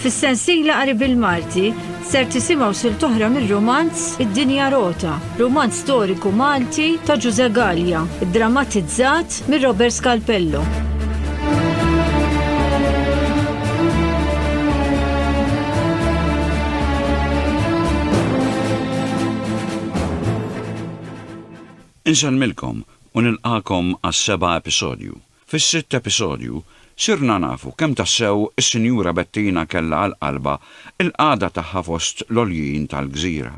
Fis-sensiela qari bil-Malti ser tisimgħu sil toħra mir-romanz Id-Dinja Rota, romanz storiku Malti ta' Ġuże Gallia, drammatizzat mir Robert Scalpello. Insellmilkom u nilqagħkom għas-seba' episodju. Fis-sitt episodju, sirna nafu kemm tassew is-Sinjura Bettina kellha għal qalbha l-qagħda tagħha fost l-għoljin tal-gżira.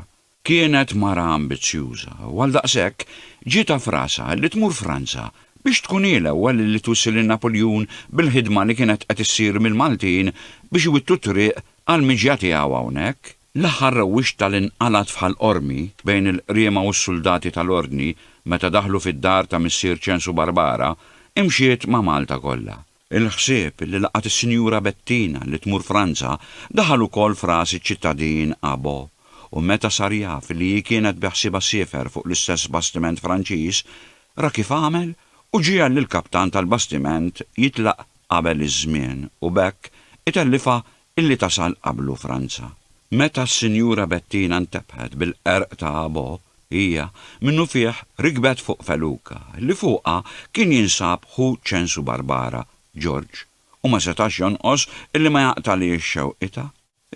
Kienet mara ambizzjuża u għaldaqshekk ġietha f'rasha li tmur Franza biex tkun hi l-ewwel li twissi lil Napuljun bil-ħidma li kienet qed issir mill-Maltin biex iwittu t-triq għall-miġja tiegħu hawnhekk. L-aħħar rewwixta li nqalgħet f'Ħal Qormi bejn il-qriema u s-suldati tal-Ordni meta daħlu fid-dar ta' Missier Ċensu Barbara imxiet ma' Malta kollha. Il-ħsieb li laqgħet is-Sinjura Bettina li tmur Franza daħal ukoll f'ras iċ-ċittadin Abo u meta sar jaf li hi kienet beħsiebha ssifer fuq l-istess bastiment Franċiż, ra kif għamel u ġiegħel lill-kaptan tal-bastiment jitlaq qabel iż-żmien u b'hekk itellifha Illi tasal qablu Franza. Meta s-Sinjura Bettina ntebħet bil-qerq ta' Abo, hija, minnufih, rikbet fuq feluka, li fuqha kien jinsab ħu Ċensu Barbara, Ġorġ, u ma setax jonqos illi ma jaqtagħlhiex xewqitha.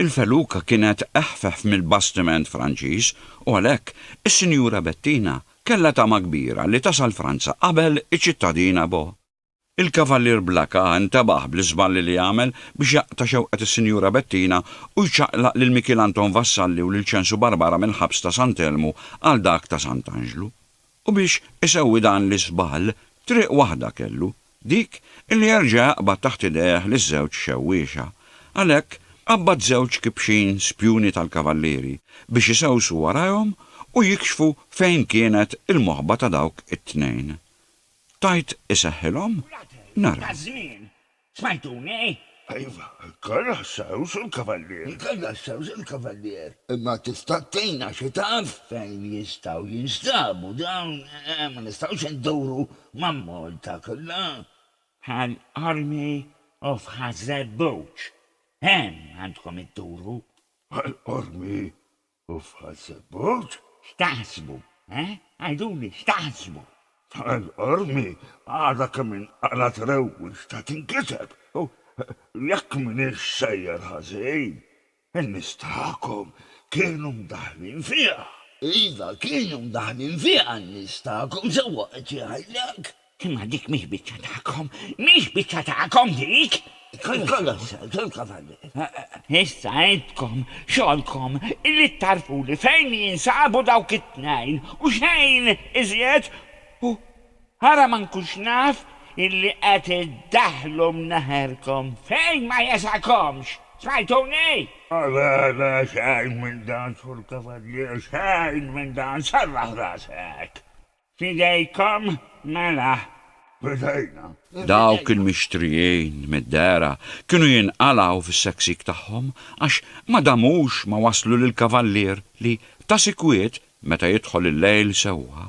Il-feluka kienet eħfef mill-bastiment Franċiż u għalhekk is-Sinjura Bettina kellha tama kbira li tasal Franza qabel iċ-ċittadin Abo. Il-Kavallier Blakka ntebaħ bl-iżballi li għamel biex jaqta' xewqet is-Sinjura Bettina u jċaqlaq lil Mikiel Anton Vassalli u lil Ċensu Barbara mill-ħabs ta' Sant' Elmu għal dak ta' Sant' Anġlu. U biex isewwi dan l-iżball, triq waħda kellu, dik illi jerġa' jaqbad taħt idejh liż-żewġ xewwiexa. Għalhekk, qabbad żewġ kibxin spjuni tal-Kavallieri biex isewsu warajhom u jikxfu fejn kienet il-moħba ta' dawk it-tnejn. Tgħid iseħħilhom? Naraw. Iva, kellha s-sewż il-Kavallier. Imma tista' tgħinna xi taf fejn jistgħu jinstabu dawn? Ma nistgħux induru mal-Malta kollha. Għall-Army of Ħaż-Żebbuġ. Hemm għandkom idduru. Għall-Army Uffazebut? X'taħsbu, eh? Għiduli, x'taħsbu? Tal-qormi għadha kemm inqalgħet rewwix ta' tinkiseb u jekk m'iniex sejjer ħażin, in-nies tagħkom kienu mdaħħlin fiha. Iva, kienu mdaħħlin fiha n-nies tagħkom, sewwa qed jgħidlek. Imma dik mhix biċċa tagħkom, mhix biċċa tagħkom dik! Kollox, ġilkom għandi. Issa intkom, xogħolkom li tagħrfuli fejn jinsabu dawk it-tnejn u xejn iżjed u ara ma nkunx naf illi qed iddaħħlu mneħerkom fejn ma jesakomx! Smajtuni? Le, le, xejn minn dan, Sur Kavallier, xejn minn dan, serraħ rasek! F'idejkom mela, bdejna. Dawk il-mixtrijin mid-dehra kienu jinqalgħu fis-seksik tagħhom għax ma damux ma waslu lill-kavallier li, ta' sikwit, meta jidħol il-lejl sewwa,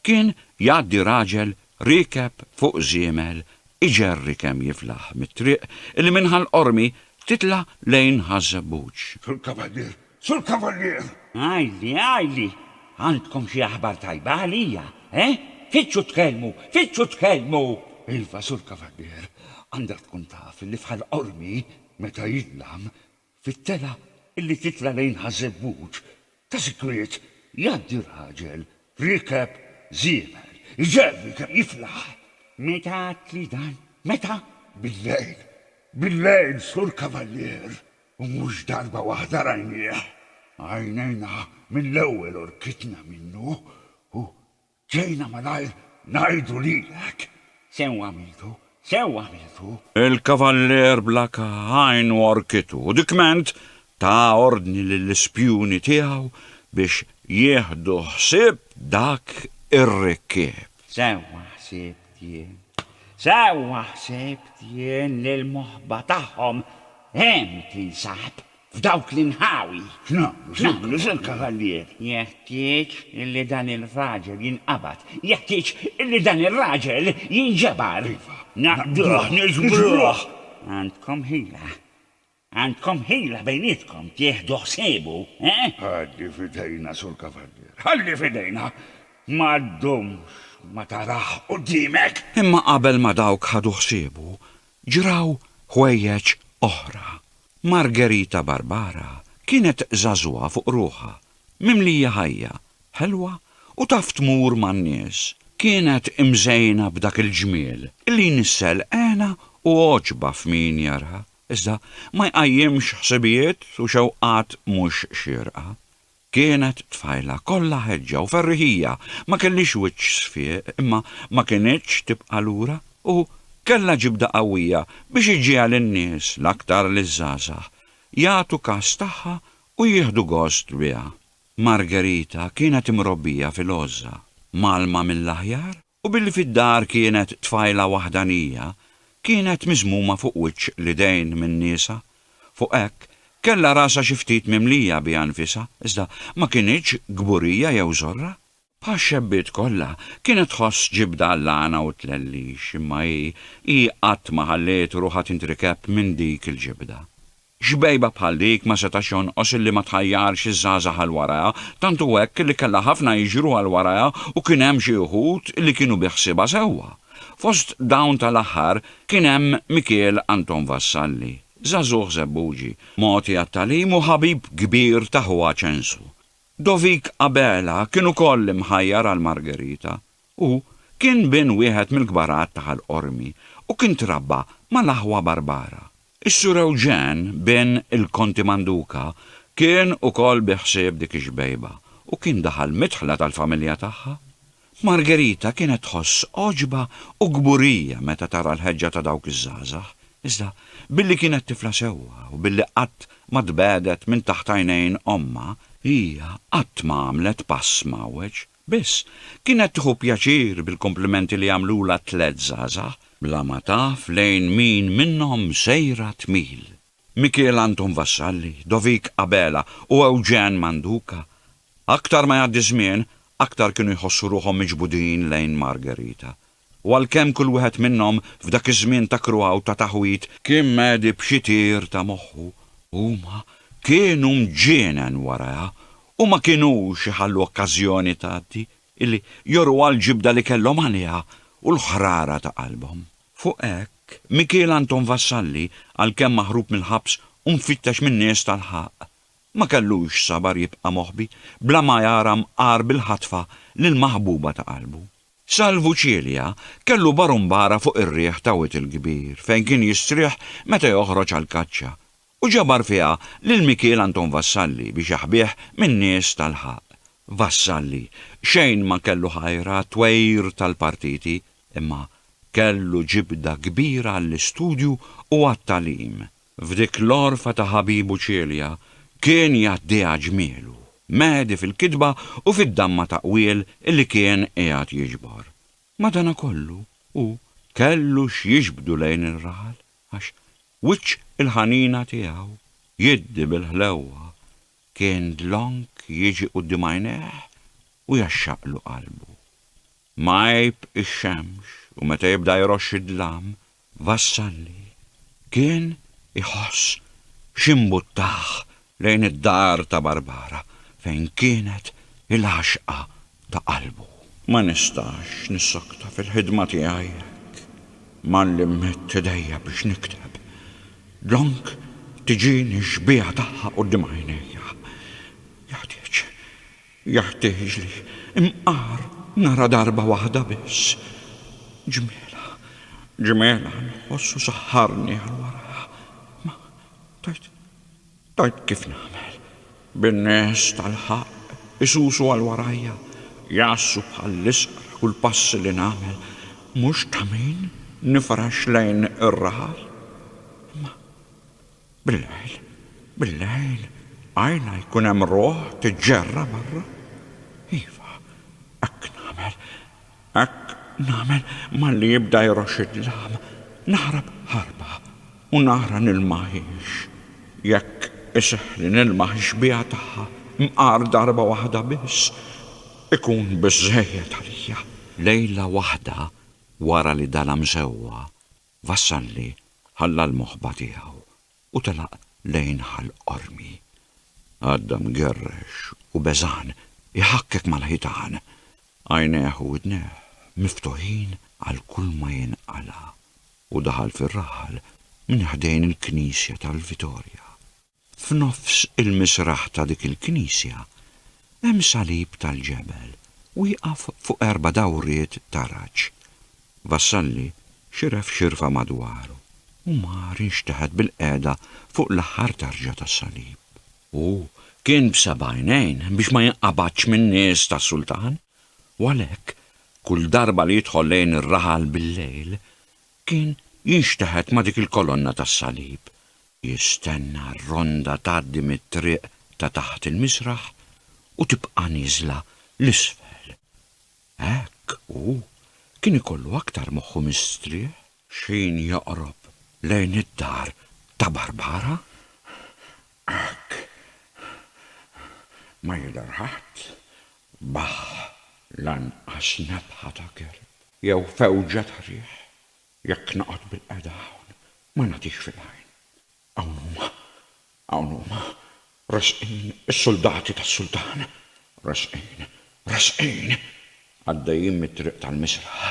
kien jgħaddi raġel riekeb fuq żiemel iġerri kemm jiflaħ mit-triq li minn Ħal Qormi titla' lejn Ħaż-Żebbuġ. Fil-kavallier Sur Kavallier! Għidli, għidli, għandkom xi aħbar tajba għalija, eh? Fittxu tkellmu, fittxu tkellmu! Iva, Sur Kavallier, għandek tkun taf li bħal qormi meta jidlam, fit-telgħa li titla' lejn Ħaż-Żebbuġ, ta' sikwit jgħaddi raġel riekeb żiemel, iġerri kemm jiflaħ! Meta għedtli dan? Meta? Billejl, billejl, Sur Kavallier! U mhux darba waħda rajnieh, għajnejna mill-ewwel u rkitna minnu, u ġejna malajr ngħidu lilek, 'Sew għamiltu, sew għamiltu! Il-kavallier bla għajn u rkitu, u dikment ta ordni lill-ispjuni tiegħu biex jieħdu ħsieb dak ir-rikkieb. Sewwa ħsibt jien, sewwa ħsibt jien li l-moħba tagħhom hemm tinsab, f'dawk l-inħawi. X'nagħmlu, Sur Kavallier? Jeħtieġ illi dan ir-raġel jinqabad, jeħtieġ illi dan ir-raġel jinġebar. Iva. Naqbduh, niġbruh. Għandkom ħila. Għandkom ħila bejnietkom tieħdu ħsiebu, eh? Ħalli f'idejna, Sur Kavallier, ħalli f'idejna! Ma ddumx ma tarah quddiemek! Imma qabel ma dawk ħadu ħsiebu, ġraw ħwejjeġ oħra. Margherita Barbara kienet żagħżugħa fuq ruħha, mimlija ħajja, ħelwa u taf tmur man-nies. Kienet imżejna b'dak il-ġmiel li jnissel hena u għoġba f'min jaraha. Iżda ma jqajjimx ħsibijiet u xewqat mhux xierqa. Kienet tfajla kollha ħeġġa u ferriħija, ma kellhiex wiċċ sfieq imma ma kinitx tibqa' lura u kellha ġibda qawwija biex iġġiegħel in-nies, l-aktar liż-żgħażagħ, jagħtu kas tagħha u jieħdu gost biha. Margherita kienet imrobbija fil-għożża, mgħallma mill-aħjar U billi fid-dar kienet tfajla waħdanija, kienet miżmuma fuq wiċċ l-idejn minn niesha. Fuq hekk, kellha rasha xi ftit mimlija biha nfisha, iżda ma kinitx kburija jew żorra. Bħax-xebbiet kollha, kienet tħoss ġibda għall-għana u t-tlellix, imma hi, hi qatt ma ħalliet ruħha tintrikeb minn dik il-ġibda. Xbejba bħal dik ma setax jonqos illi ma tħajjarx iż-żgħażagħ għal warajha, tant hu hekk li kellha ħafna jiġru għal warajha u kien hemm xi wħud li kienu bi ħsiebha sewwa. Fost dawn tal-aħħar kien hemm Mikiel Anton Vassalli, żagħżugħ Żebbuġi, mogħti għat-tagħlim u ħabib kbir ta' ħuha Ċensu. Dovik Abela kien ukoll imħajjar għal Margherita. Hu kien bin wieħed mill-kbar għadd ta' Ħal Qormi u kien trabba mal-aħwa Barbara. Is-Sur Eugen, bin il-Konti Manduca, kien ukoll bi ħsieb dik ix-xbejba u kien daħal mid-dħla tal-familja tagħha. Margherita kienet tħoss għoġba u kburija meta tara l-ħeġġa ta' dawk iż-żgħażagħ, iżda billi kienet tifla sewwa u billi qatt ma tbegħdet minn taħt għajnejn ommha, hija qatt ma għamlet pass mgħawweġ. Biss, kienet tieħu pjaċir bil-komplimenti li jagħmlulha t-tliet żgħażagħ, bla ma taf lejn min minnhom sejra tmil. Mikiel Anton Vassalli, Dovik Abela u Eugen Manduca, aktar ma jgħaddi ż-żmien, aktar kienu jħossu ruħhom miġbudin lejn Margherita. U għalkemm kull wieħed minnhom f'dak iż-żmien ta' kruha u ta' taħwid, kien mhedi b'xi tir ta' moħħu, huma kienu mġienen warajha u ma kinux iħallu okkażjoni tgħaddi illi joruha l-ġibda li kellhom għaliha u l-ħrara ta' qalbhom. Fuq hekk, Mikiel Anton Vassalli, għalkemm maħrub mill-ħabs u mfittex min-nies tal-ħaqq, ma kellux sabar jibqa' moħbi bla ma jara mqar bil-ħatfa lill-maħbuba ta' qalbu. Salvu Cilia kellu barumbara fuq ir-riħ ta' wied il-kbir fejn kien jistrieħ meta joħroġ għall-kaċċa u ġabar fiha lil Mikiel Anton Vassalli biex jaħbih min-nies tal-ħaqq. Vassalli xejn ma kellu ħajr għat-twegħir tal-partiti imma kellu ġibda kbira għall-istudju u għat-tagħlim. F'dik l-għorfa ta' ħabibu Celia kien jgħaddiha ġmielu, mehedi fil-kitba u fid-damma ta' qwiel li kien qiegħed jiġbor. Madanakollu hu kellu x'jiġbdu lejn ir-raħal għax wiċċ il-ħanina tiegħu, jiddi bil-ħlewwa, kien dlonk jiġi quddiem għajnejh u jgħaxxaqlu qalbu. M'għajb ix-xemx u meta jibda jroxx id-dlam Vassalli kien iħoss x'imbuttah lejn id-dar ta' Barbara fejn kienet il-għaxqa ta' qalbu. Ma nistax nissokta fil-ħidma tiegħi jekk ma nlimmit idejja biex nikteb. Dlonk tiġini x-xbieha tagħha quddiem għajnejja. Jeħtieġ Jeħtieġli nqar nara darba waħda biss. Ġmielha, ġmielha nħoss u saħħarni għal wara. Ma tgħid, tgħid kif nagħmel? Bin-nies tal-ħaqq isusu għal warajja, jgħassu bħall-isqra kull pass li nagħmel, mhux ta' min nifrax lejn ir-raħal? Imma Bil-lejl, bil-lejl, qajla jkun hemm ruħ tiġġerra barra? Iva, hekk nagħmel, hekk nagħmel malli jibda jroxx id-dlam, naħrab ħarba u nara nilmaħiex. Jekk iseħħli nilmaħ ix-xbieha tagħha mqar darba waħda biss, ikun biżżejjed għalija. Lejla waħda wara li dala msewwa, Vassalli ħalla l-moħba tiegħu u telaq lejn Ħal Qormi. Għadda mgerrex u beżgħan iħakkek mal-ħitan, għajnejh u widnejh miftuħin għal kulma jinqala', u daħal fir-raħal minn ħdejn il-knisja tal-Vitorja. F'nofs il-misraħ ta' dik il-knisja hemm salib tal-ġebel wieqaf fuq erba' dawriet ta' raġġ. Vassalli xiref xirfa madwaru u mar inxteħet bil-qiegħda fuq l-aħħar tarġa tas-salib. Hu kien b'seb'għajnejn biex ma jinqabadx min-nies tas-sultan u għalhekk kull darba li jidħol lejn ir-raħal bil-lejl kien jinxteħet ma' dik il-kolonna tas-salib Jistenna r-ronda tgħaddi mit-triq ta' taħt il-misraħ u tibqa' nieżla 'l isfel. Hekk hu kien ikollu aktar moħħu mistrieħ. X'ħin joqrob lejn id-dar ta' Barbara. Hekk. Ma jidher ħadd. Baħħ. Lanqas nefħa ta' kerb jew fewġa ta' riħ. Jekk noqgħod bilqiegħda hawn, ma nagħtix fil-għajn. Hawn huma. Hawn huma. Resqin is-suldati tas-sultan. Resqin. Resqin. Għaddejjin mit-triq tal-misraħ.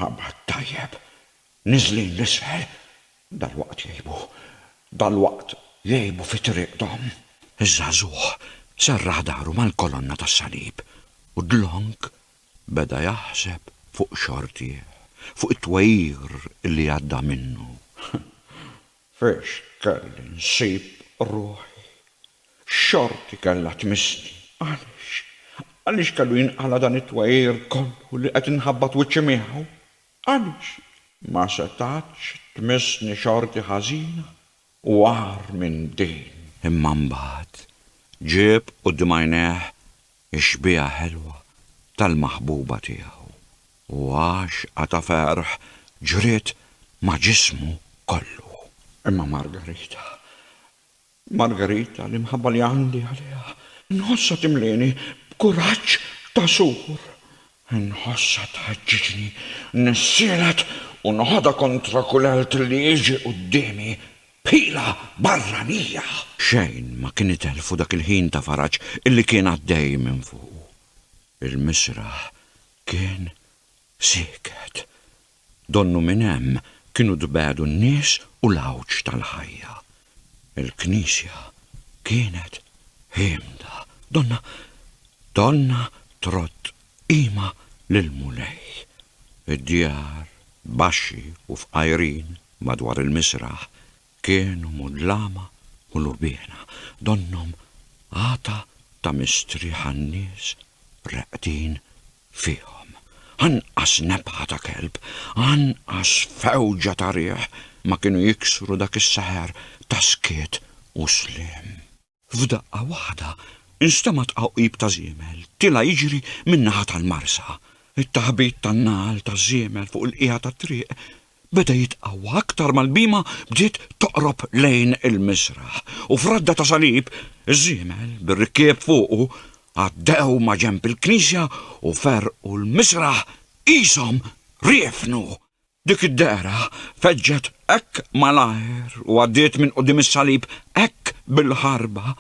Ħabar tajjeb. Niżlin 'l isfel. Dalwaqt jgħibu. Dalwaqt jgħibu fi triqthom. Iż-żagħżugħ serraħ dahru mal-kolonna tas-salib u dlonk Beda jaħseb fuq xortih, fuq it-twegħir li għadda minnu. Fiex kelli nsib ruħi? X'xorti kellha tmissni? Għaliex, għaliex kellu jinqala' dan it-twegħir kollu li qed inħabbat wiċċi miegħu? Għaliex? Ma setgħetx tmissni xorti ħażina, u agħar minn din. Imma mbagħad ġieb quddiem għajnejh ix-xbieha ħelwa tal-maħbuba tiegħu, u għaxqa ta' ferħ ġriet ma' ġismu kollu. Imma Margarita, Margarita, l-imħabba li għandi għaliha, nħossha timlieni b'kuraġġ ta' sur. Inħossha tħeġġiġni, nissielet u noħodha kontra kull elt li jiġi quddiemi, b'ħila barranija! Xejn ma kien itelfu dak il-ħin ta' faraġ li kien għaddej minn fuqu. Il-misraħ kien sieket. Donnu minn hemm kienu tbegħdu n-nies u l-għawġ tal-ħajja. Il-knisja kienet ħiemda. Donna, donna trodd qima lill-Mulej. Id-djar, baxxi u fqajrin madwar il-misraħ, Kienu mudlama u lubiena, donnhom għata ta' mistrieħ għan-nies reqdin fihom. Anqas nebħa ta' kelb, anqas fewġa ta' riħ ma kienu jiksru dak is-seħer ta' skiet u sliem. F'daqqa waħda nstema' tqawqib ta' żiemel tilgħa jiġri min-naħa tal-marsa. It-taħbit tan-nagħal taż-żiemel fuq il-qiegħa tat-triq beda jitqawwa aktar ma l-bhima bdiet toqrob lejn il-miżraħ u f'radda ta' salib iż-żiemel bir-rikkieb fuqu għaddew maġenb il-knisja u ferrqu l-miżraħ qishom riefnu. Dik id-dehra feġġet hekk malajr u għaddiet minn quddiem is-salib hekk bil-ħarba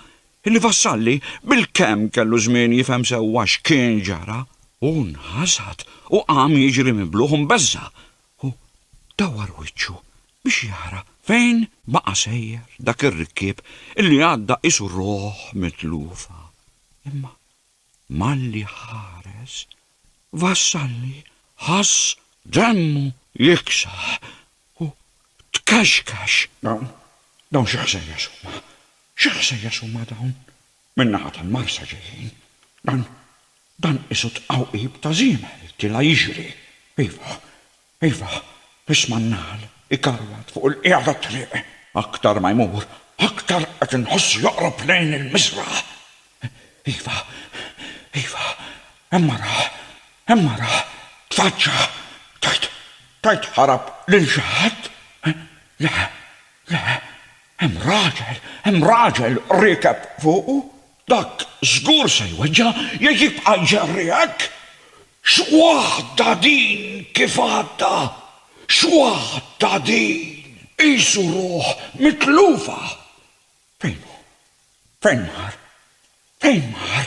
illi Vassalli bilkemm kellu żmien jifhem sewwa x'kien ġara, hu nħasad u qam jiġri mibluħ u mbeżża' u dawwar wiċċu biex jara fejn baqa' sejjer dak ir-rikkieb illi għadda qisu ruħ mitlufa. Imma Malli ħares, Vassalli ħass demmu jiksaħ u tkaxkax. Dawn, dawn xi ħsejjes huma? Xi ħsejjes huma dawn? Min-naħa tal-Marsa ġejjin. Dan, dan qisu tqawqib ta' żiemel, tila' jiġri. Iva, Iva, biex man-nagħal ikarwat fuq il-qiegħ tat-triq. Aktar ma jmur, aktar qed inħossu joqrob lejn il-miżraħ. Iva, iva, hemm mara, hemm mara, tfaġġa'. Tgħid, tgħid ħarab lil xi ħadd? Le, le, hemm raġel, hemm raġel riekeb fuqu. Dak żgur se jweġġa' jekk jibqa' jġerriegħek! X'waħda din kif għadda! X'waħda din! Qisu ruħ mitlufa! Fejn hu? Fejn mar? Fejn mar?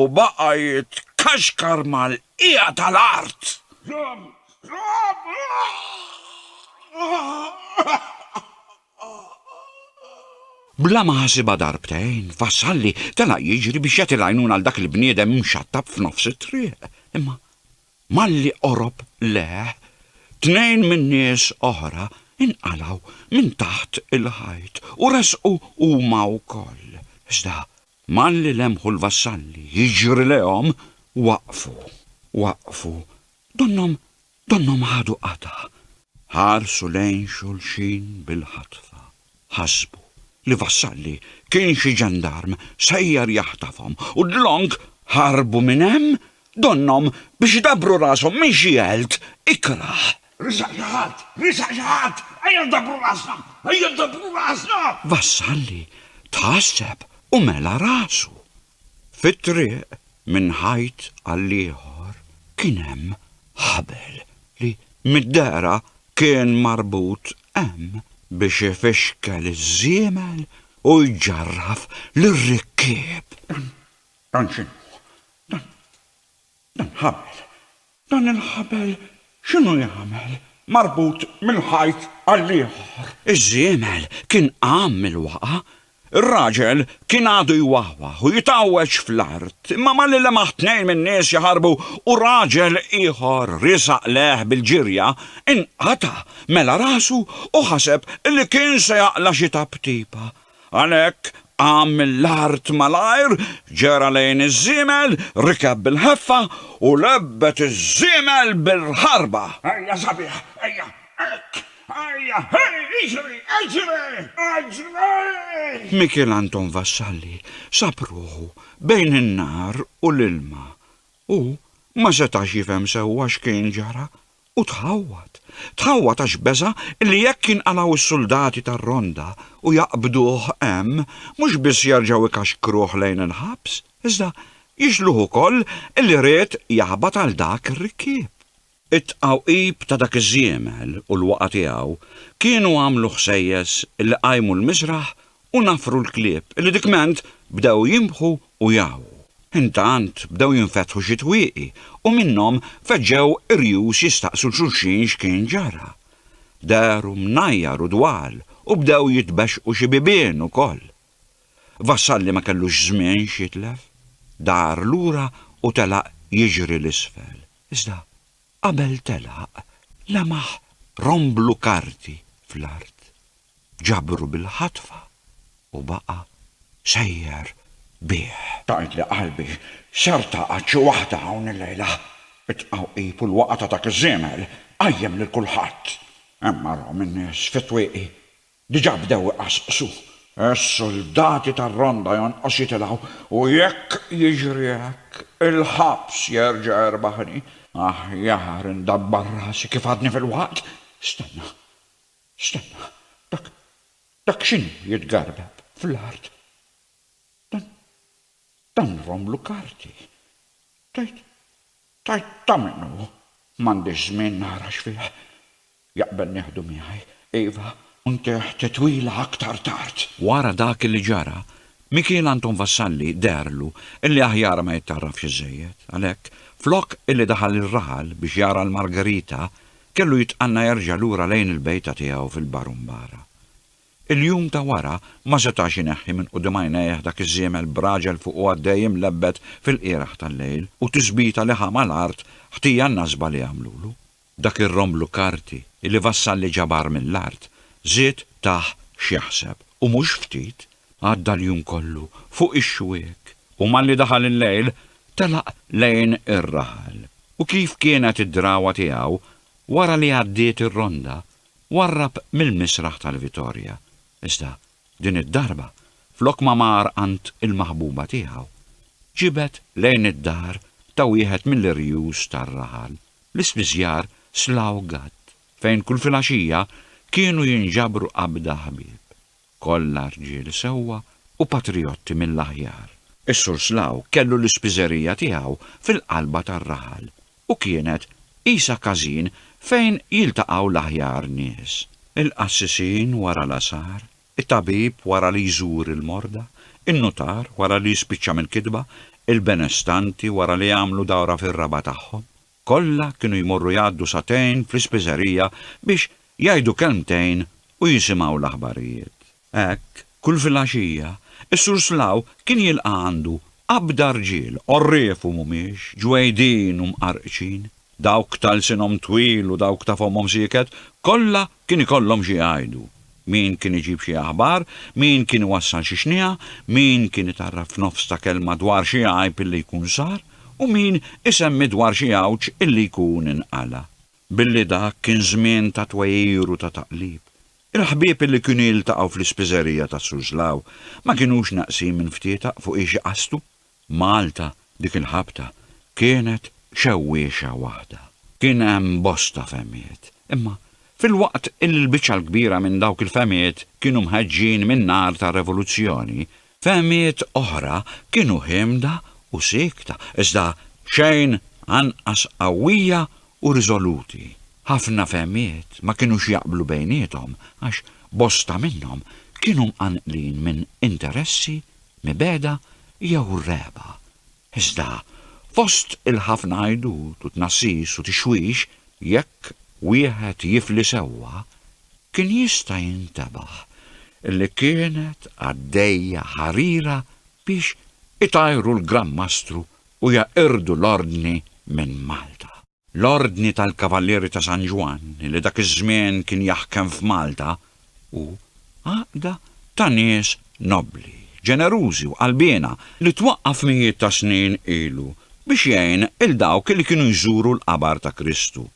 U baqa' jitkaxkar mal-bqija tal-art. Bla ma ħasibha darbtejn, Vassalli telaq jiġri biex jagħti l-għajnuna għal dak il-bniedem imxattab f'nofs it-triq. Imma malli qorob lejh, tnejn minn nies oħra inqalgħu minn taħt il-ħajt u resqu huma wkoll. Iżda Malli lemħu l-vassalli jiġri lejhom, waqfu, waqfu, donnhom, donnhom ħadu qatgħa. Ħarsu lejn xulxin bil-ħatfa. Ħasbu li vassalli kien xi ġendarm sejjer jaħtafhom u dlonk ħarbu minn hemm, donnhom biex dabbru rashom minn xi għelt ikrah. Resaq xi ħadd! Resaq xi ħadd! Ejja ndabbru rasna! Ejja ndabbru rasna! Vassalli tħasseb u mela rasu. Fit-triq minn ħajt għall-ieħor kien hemm ħabel li mid-dehra kien marbut hemm biex ifixkel iż-żiemel u jġarraf lir-rikkieb. Dan x'inhu? Dan Dan ħabel. Dan il-ħabel x'inhu jagħmel? Marbut minn ħajt għall-ieħor. Iż-żiemel kien qam mill-waqgħa. Ir-raġel kien għadu jwawwaħ u jitgħawweġ fl-art, imma malli lemaħ tnejn min-nies jaħarbu u raġel ieħor riesaq lejh bil-ġirja, inqata' mela rasu u ħaseb li kien se jaqla' xi taptipa. Għalhekk qam mill-art malajr, ġera lejn iż-żiemel, rikeb bil-ħeffa u lebbet iż-żiemel bil-ħarba. Ejja sabiħ, ejja, hekk! Ejja, hej, iġri, iġri, iġri! Mikiel Anton Vassalli sab ruħu bejn in-nar u l-ilma. Hu ma setax jifhem sewwa x'kien ġara U tħawwad, tħawwad għax beża' li jekk jinqalgħu s-suldati tar-Ronda u jaqbduh hemm, mhux biss jerġgħu jkaxkruh lejn il-ħabs, iżda jixluh ukoll li ried jaħbat għal dak ir-rikkieb. It-tqawqib ta' dak iż-żiemel u l-waqgħa tiegħu kienu għamlu ħsejjes li qajmu l-miżraħ u naffru l-klieb li dikment bdew jinbħu u jgħu. Intant bdew jinfetħu xi twieqi u minnhom feġġew irjus jistaqsu xulxin x'kien ġara. Dehru mnajjar u dwal u bdew jitbexxqu xi bibien ukoll. Vassalli ma kellux żmien x'jitlef. Dar lura u telaq jiġri 'l isfel. Iżda qabel telaq lemaħ romblu karti fl-art. ġabru bil-ħatfa u baqa' sejjer bih. Tgħidli qalbi x'artaqgħet xi waħda hawn illejla? It-tqawqib u l-waqgħa ta' dak iż-żiemel qajjem lil kulħadd. Hemm marhom in-nies fit-twieqi. Diġà bdew iqassqsu. Is-suldati tar-ronda jonqos jitilgħu u jekk jiġri hekk, il-ħabs jerġa' jerbaħni. Aħjar indabbar rasi kif għadni filwaqt. Stenna. Stenna, dak, dak x'inhu jitgarbeb fl-art? Dan, dan romlu karti. Tgħid, tgħid ta' min hu? M'għandix żmien nara x'fih. Jaqbel nieħdu miegħi, iva, u ntih titwila aktar tard. Wara dak li ġara, Mikiel Anton Vassalli deherlu illi aħjar ma jittarrafx iżżejjed. Għalhekk, flok illi daħal ir-raħal biex jara l-Margherita, Kellu jitqanna jerġa' lura lejn il-bejta tiegħu fil-Barumbara. Il-jum ta' wara ma setax ineħħi minn quddiem għajnejh dak iż-żiemel b'raġel fuqu għaddej imlebbed fil-qiegħraħ tal-lejl u tisbita li ħa mal-art ħtija n-nasba li għamlulu. Dak ir-romblu karti li Vassalli ġabar mill-art żied tah x'jaħseb, u mhux ftit. Għadda l-jum kollu fuq ix-xwiek u malli daħal il-lejl telaq lejn ir-raħal u kif kienet id-drawwa tiegħu wara li għaddiet ir-ronda warrab mill-misraħ tal-Vitorja iżda din id-darba flok ma mar għand il-maħbuba tiegħu ġibed lejn id-dar ta' wieħed mill-irjus tar-raħal l-ispiżjar Slough Gatt fejn kull filgħaxija kienu jinġabru qabda ħbieb. Kollha rġiel sewwa u patrijotti mill-aħjar. Is-Sur Slaw kellu l-ispiżerija tiegħu fil-qalba tar-raħal u kienet qisha każin fejn jiltaqgħu l-aħjar nies. Il-qassisin wara l-għasar, it-tabib wara li jżur il-morda, in-nutar wara li jispiċċa mill-kitba, il-benestanti wara li jagħmlu dawra fir-raba' tagħhom. Kollha kienu jmorru jgħaddu sagħtejn fl-ispiżerija biex jgħidu kelmtejn u jisimgħu l-aħbarijiet. Hekk, kull filgħaxija, is-Sur Slough kien jilqa' għandu qabda rġiel, għorrief u mhumiex, ġwejdin u mqarrqċin, dawk ta' lsinhom twil u dawk ta' fommhom sieket, kollha kien ikollhom xi jgħidu. Min kien iġib xi aħbar, min kien iwassal xi xniegħa, min kien itgħarraf f'nofs ta' kelma dwar xi għajb illi jkun sar, u min isemmi dwar xi għawġ illi jkun inqala'. Billi dak kien żmien ta' twegħir u ta' taqlib, il-ħbieb illi kienu jiltaqgħu fl-ispiżerija ta' Suslaw ma kinux naqsin minn ftietaq fuq ix iqastu, Malta dik il-ħabta kienet xewwiexa waħda. Kien hemm bosta fehmiet, imma filwaqt illi l-biċċa l-kbira minn dawk il-fehmiet kienu mħeġġin min-nar tar-revoluzzjoni, fehmiet oħra kienu ħiemda u siekta, iżda xejn anqas qawwija u riżoluti. Ħafna fehmiet ma kinux jaqblu bejniethom għax bosta minnhom kienu mqanqlin minn interessi mibegħda jew rehba. Iżda, fost il-ħafna għajdut u tnassis u tixwix, jekk wieħed jifli sewwa, kien jista' jintebaħ li kienet għaddejja ħarira biex itajru l-Gran Mastru u jeqirdu l-Ordni minn Malta. L-Ordni tal-Kavallieri ta' San Ġwann, li dak iż-żmien kien jaħkem f'Malta, hu għaqda ta' nies nobbli, ġenerużi u qalbiena li twaqqaf mijiet ta' snin ilu biex jgħin 'il dawk li kienu jżuru l-qabar ta' Kristu,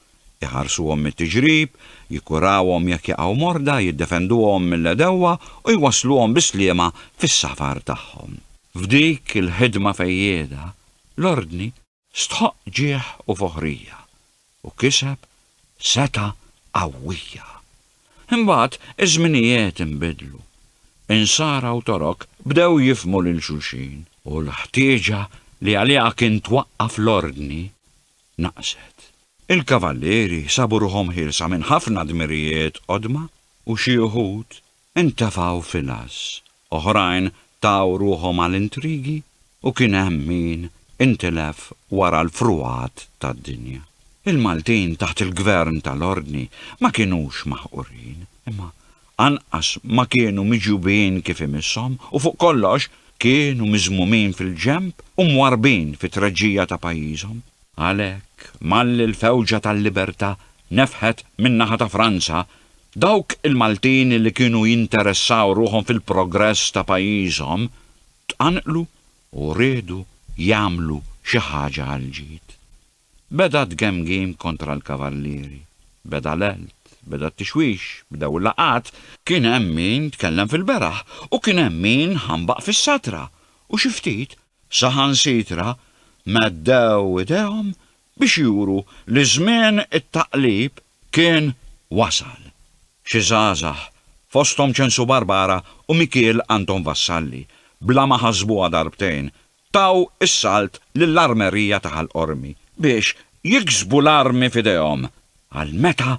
iħarsuhom mit-tiġrib, jikkurawhom jekk jaqgħu morda, jiddefenduhom mill-għedewwa u jwassluhom bis-sliema fis-safar tagħhom. F'dik il-ħidma fejjieda, l-Ordni Stħoqq ġieħ u foħrija, u kiseb setgħa qawwija. Imbagħad iż-żminijiet inbidlu. Insara u Torok bdew jifhmu lil xulxin, u l-ħtieġa li għaliha kien twaqqaf l-Ordni naqset. Il-Kavallieri sabu ruħhom ħielsa minn ħafna dmirijiet qodma u xi uħud intefgħu fil-għażż, oħrajn taw ruħhom għal intrigi u kien hemm min intilef wara l-frugħat tad-dinja. Il-Maltin taħt il-Gvern tal-Ordni ma kinux maħqurin, imma anqas ma kienu miġjubin kif imisshom u fuq kollox kienu miżmumin fil-ġenb u mwarrbin fit-treġġija ta' pajjiżhom. Għalhekk, malli l-fewġa tal-libertà nefħet min-naħa ta' Franza, dawk il-Maltin li kienu jinteressaw ruħhom fil-progress ta' pajjiżhom tqanqlu u riedu jagħmlu xi ħaġa għall-ġid. Beda t-tgemgim kontra l-Kavallieri. Beda l-għelt, beda t-tixwix, bdew il-laqgħat. Kien hemm min tkellem fil-beraħ u kien hemm min ħambaq fis-satra u xi ftit Saħansitra meddew idejhom biex juru li żmien it-taqlib kien wasal. Xi żgħażagħ, fosthom Ċensu Barbara u Mikiel Anton Vassalli, bla ma ħasbuha darbtejn, taw is-salt lill-Armerija ta' Ħal Qormi biex jiksbu l-armi f'idejhom għal meta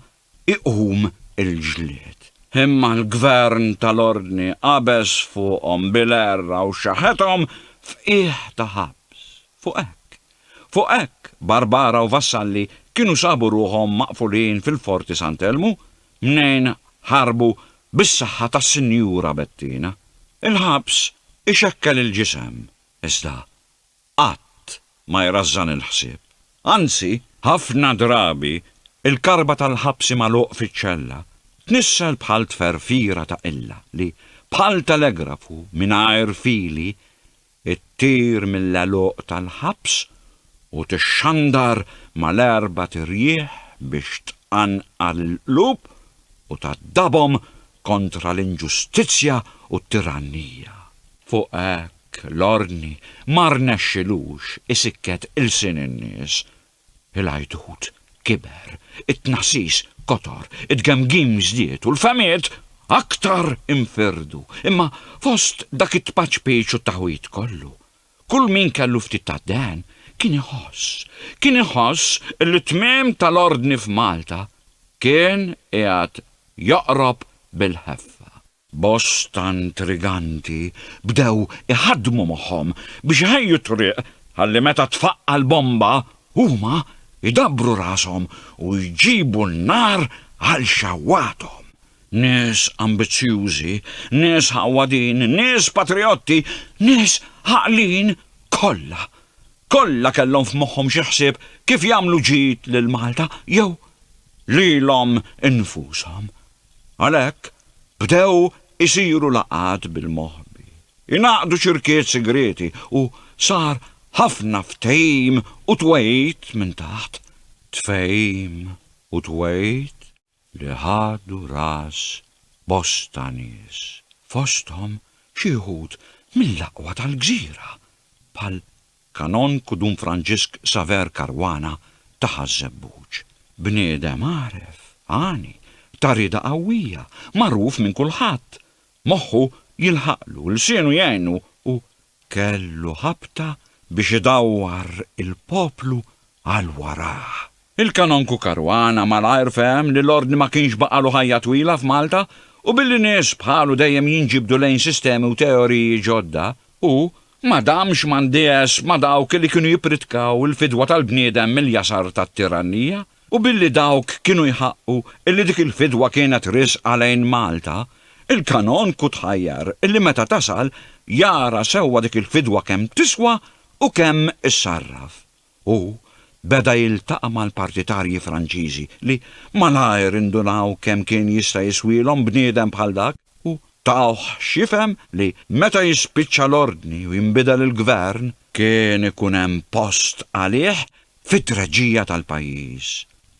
iqum il-ġlied. Imma l-gvern tal-ordni qabeż fuqhom bil-għerra u xaħethom f'qiegħ ta' ħabs. Fuq hekk. Fuq hekk, Barbara u vassalli kienu sabu ruħhom maqfulin fil-Forti Sant'Elmu, mnejn ħarbu bis-saħħa tas-Sinjura Bettina. Il-ħabs ixekkel il-ġisem, iżda qatt ma jrażżan il-ħsieb. Anzi, ħafna drabi l-karba tal-ħabsi magħluq fiċ-ċella tnissel bħal tferfira ta' qilla li, bħal telegrafu mingħajr fili, ttir mill-għeluq tal-ħabs u tixxandar mal-erbat irjieħ biex tqanqar il-qlub u tgħaddabhom kontra l-inġustizzja u t-tirannija. Fuq hekk, Hekk l-ordni ma rnexxilux isikket ilsien in-nies. Il-għajdut kiber, it-tnassis kotor, it-tgemgim żdied u l-fehmiet aktar infirdu. Imma fost dak it-tpaċpiċ u t-taħwid kollu, kull min kellu ftit tad-dehen kien iħoss, kien iħoss li t-tmiem tal-ordni f'Malta kien qiegħed joqrob bil-ħeffa. Bosta intriganti bdew iħaddmu moħħhom biex iħejju t-triq ħalli meta tfaqqa' l-bomba, huma jdabbru rashom u jġibu n-nar għal xewwathom. Nies ambizzjużi, nies ħawwadin, nies patrijotti, nies għaqlin, kollha, kollha kellhom f'moħħhom xi ħsieb kif jagħmlu ġid lil Malta jew lilhom infushom. Għalhekk, bdew isiru laqgħat bil-moħbi, ingħaqdu ċirkiet sigrieti u sar ħafna ftehim u twegħid minn taħt tfehim u twegħid li ħadu ras bosta nies, fosthom xi wħud mill-aqwa tal-gżira bħal Kanonku Dun Franġisk Saver Caruana ta Ħaż-Żebbuġ. Bniedem għaref, għani, ta' rieda qawwija, magħruf minn kulħadd. Moħħu jilħaqlu, lsienu jgħinu u kellu ħabta biex idawwar il-poplu għal warah. Il-Kanonku Caruana malajr fehem li l-Ordni ma kienx baqgħalu ħajja twila f'Malta u billi nies bħalu dejjem jinġibdu lejn sistemi u teoriji ġodda, hu ma damx m'għandież ma' dawk li kienu jippritkaw il-fidwa tal-bniedem mill-jasar tat-tirannija u billi dawk kienu jħaqqu li dik il-fidwa kienet riżqa lejn Malta, il-Kanonku tħajjar li meta tasal jara sewwa dik il-fidwa kemm tiswa u kemm issarraf. Hu beda jiltaqa' mal-partitarji Franċiżi li malajr indunaw kemm kien jista' jiswielhom bniedem bħal dak u tawh x'jifhem li meta jispiċċa l-ordni u jinbidel il-gvern kien ikun hemm post għalih fit-treġija tal-pajjiż.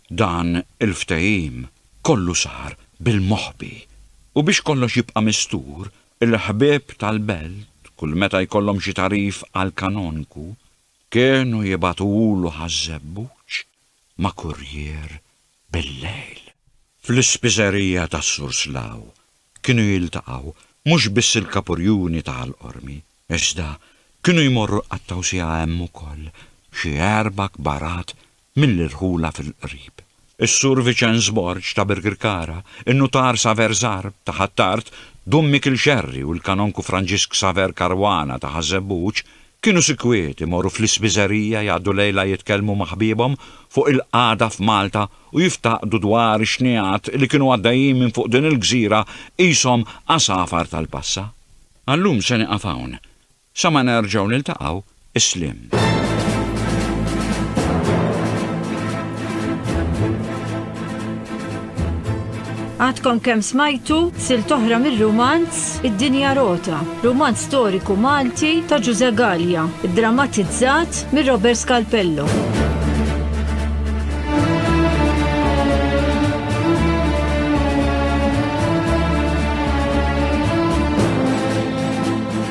Dan il-ftehim kollu sar bil-moħbi u biex kollox jibqa' mistur, il-ħbieb tal-belt kull meta jkollhom xi tagħrif għall-kanonku Kienu jibagħtulu ħaż-żebbuġ ma' kurrier bil-lejl. Fl-ispiżerija tas-Sur Slaw kienu jiltaqgħu mhux biss il-Kapurjuni ta' Ħal Qormi, iżda kienu jmorru jqattgħu siegħa hemm ukoll xi erba' kbarat milli rħulha fil-qrib. Is-Sur Viċenz Borg ta' Birkirkara, in-Nutar Saver Żgħar ta' Ħ'Attard, Dun Mikiel Xerri u l-Kanonku Franġisk Saver Caruana ta' Ħaż-Żebbuġ kienu sikwiet imorru fl-ispiżerija jgħaddu lejla jitkellmu ma' ħbiebhom fuq il-qagħda f'Malta u jiftaqdu dwar ix-xnigħat li kienu għaddejjin minn fuq din il-gżira qishom għasafar tal-passa. Għal-lum se nieqaf hawn. Sa ma nerġgħu niltaqgħu, is-sliem. Għadkom kemm smajtu silt oħra mir-rumanz Id-Dinja Rota, rumanz storiku Malti ta' Ġuże Gallia, iddramatizzat minn Robert Scalpello.